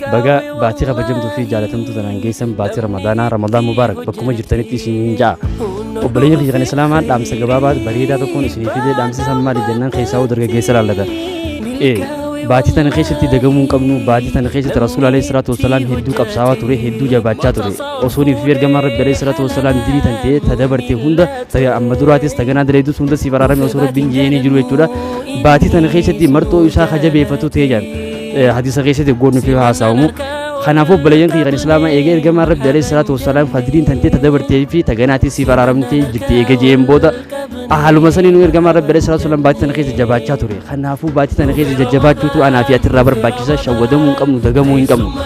Baga baatii kabajamtuu fi jaalatamtuu tanaan geessan baatii Ramadaanaa Ramadaan Mubaarak bakkuma jirtanitti isiniin ja'a. Obboleeyyan kiyya kan Islaamaa dhaamsa gabaabaa bareedaa tokkoon isinii fidee dhaamsi san maali jennaan keessaa hoo dargaggeessa laallata. Ee baatii tana keessatti dagamuu hin qabnu baatii tana keessatti Rasuul alayhi salaatu wassalaam hedduu qabsaawaa ture hedduu jabaachaa ture. Osoo niif fi ergamaan Rabbi alayhi salaatu wassalaam dirii tan ta'ee ta dabarte hunda ta amma duraatis ta ganaa daleedus hunda siif araarame osoo Rabbiin jeeni jiru jechuudha. Baatii tana keessatti marxoo isaa ka jabeeffatu ta'ee jaan. hadiisa keessatti eggoo nuuf haasa'amu kanaafuu obboleeyyan kiyya kan islaamaa eegee ergamaan rabbi alayhi salaatu wassalaam fadliin tantee ta dabartee fi ta ganaatii siif araaramtee jirti eegee jeen booda haaluma saniin ergamaan rabbi alayhi salaatu wassalaam baatii tana keessa jabaachaa ture kanaafuu baatii tana keessa jajjabaachuutu anaa fi ati irraa barbaachisa shawwadamuu hin qabnu dagamuu hin qabnu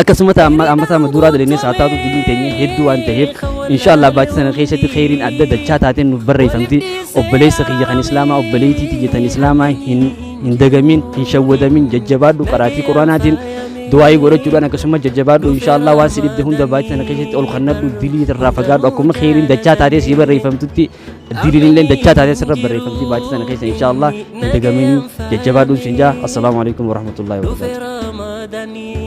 akkasumas amma amma sama duraa dalinee saa taatu diliin teenya hedduu waan ta'eef inshaallah baatii sana keessatti kheyriin adda dachaa taateen nuuf barreeffamti obboleessa kiyya kan islaamaa obboleettii tiyya tan islaamaa hin hin dagamin hin shawwadamin jajjabaadhu qaraatii quraanaatiin du'aa'ii godhachuudhaan akkasumas jajjabaadhu inshaallah waan si dhibde hunda baatii sana keessatti ol kannadhu dilii irraa fagaadhu akkuma kheyriin dachaa taatee sii barreeffamtutti diliin illee dachaa taatee sirra barreeffamti baatii sana keessa inshaallah hin dagamin jajjabaadhu sin jaa assalaamu alaikum warahmatullahi wabarakatuh